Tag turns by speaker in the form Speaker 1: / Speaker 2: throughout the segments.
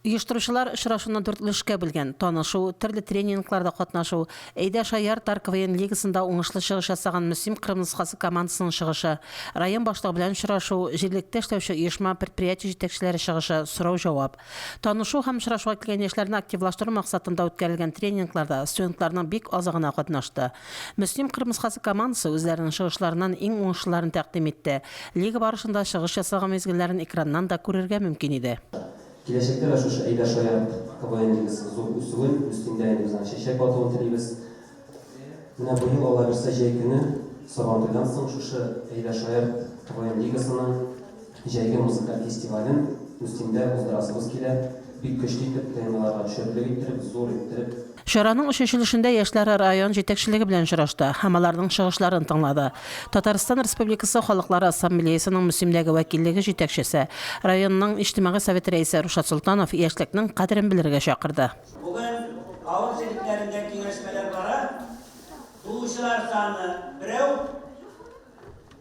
Speaker 1: Оештыручылар очрашуны дүрт өлешкә бүлгән, танышу, төрле тренингларда катнашу, Әйдә шаяр тар КВН лигасында уңышлы чыгыш ясаган Мөслим Кырым носхасы командасының чыгышы, район башлыгы белән очрашу, җирлектә эшләүче оешма, предприятие җитәкчеләре чыгышы, сорау-җавап. Танышу һәм очрашуга килгән яшьләрне активлаштыру максатында үткәрелгән тренингларда студентларның бик азы гына катнашты. Мөслим Кырым носхасы командасы үзләренең чыгышларыннан иң уңышлыларын тәкъдим итте, лига барышында чыгыш ясалган мизгелләрен экраннан да күрергә мөмкин иде. Киләчәктә дә
Speaker 2: шушы әйбәт шаярт КВНлыгыз зур үсүен, өстендә инде без аңа чәчәк атуын телибез. Менә бу ел, Алла бирсә, җәй көне, Сабантуйдан соң шушы әйбәт шаярт КВНлыгасының җәйге музыкаль фестивален Устиндә уздырасыбыз килә. Бик көчле итеп, ТНВларга төшерерлек иттереп, зур иттереп. Чараның чәчелешендә
Speaker 1: яшьләр район җитәкчелеге белән очрашты һәм аларның чыгышларын тыңлады. Татарстан Республикасы Халыклар Ассамблеясының Мөслимдәге вәкиллеге җитәкчесе, районның Иҗтимагый советы рәисе Рушат Солтанов яшьлекнең кадерен белергә чакырды. Бүген
Speaker 3: авыл җирлекләрендә киңәшмәләр бара, туучылар саны, берәү.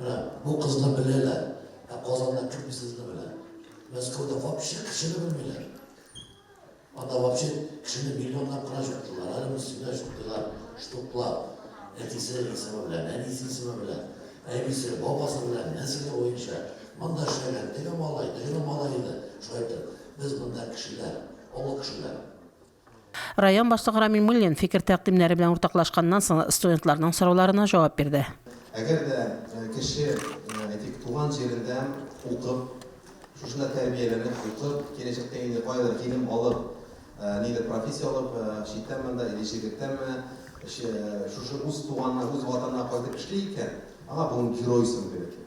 Speaker 4: Менә бу кызны беләләр, ә Казанда кем сезне белә? Мәскәүдә вообще кешене белмиләр. Анда вообще кешене миллионлап кына чуктылар, әле без сине чуктылар, штуклар. Әтисе исеме белән, әнисе исеме белән, әбисе, бабасы белән, нәселе буенча. Монда эшләгән, теге малай, теге малай иде, шулай итеп. Без монда кешеләр, олы кешеләр.
Speaker 1: Район башлыгы Рамил Муллин фикер-тәкъдимнәре белән уртаклашканнан соң студентларның сорауларына җавап бирде. Әгәр дә
Speaker 5: кеше, әйтик, туган җирендә укып, шушында тәрбияләнеп укып, киләчәктә инде каядыр килем алып, нидер профессия алып, читтәнме анда или чирлектәнме, шушы үз туганына, үз ватанына кайтып эшли икән, аңа бүген герой исеме бирелгән.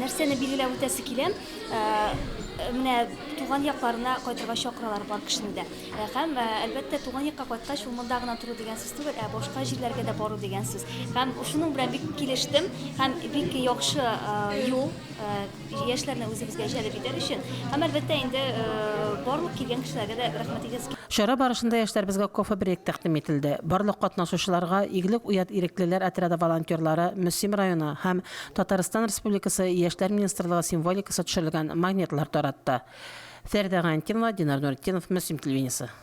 Speaker 1: Нәрсәне билгеләп
Speaker 6: үтәсе килә? Менә туган якларына кайтырга чакыралар бар кешене дә. Һәм, әлбәттә, туган якка кайткач, ул монда гына тору дигән сүз түгел, ә башка җирләргә дә бару дигән сүз. Һәм шуның белән бик килештем. Һәм бик яхшы юл, яшьләрне үзебезгә җәлеп итәр өчен. Һәм, әлбәттә, инде барлык килгән кешеләргә дә рәхмәт әйтәсе килә. Чара барышында
Speaker 1: яшьләребезгә кофе-брейк тәкъдим ителде. Барлык катнашучыларга Иглек уят иреклеләр отряды волонтерлары, Мөслим районы һәм Татарстан Республикасы Яшьләр министрлыгы символикасы төшерелгән магнитлар таратты. Фәридә Гайнтинова, Динар Нуретдинов, Мөслим телевидениесе.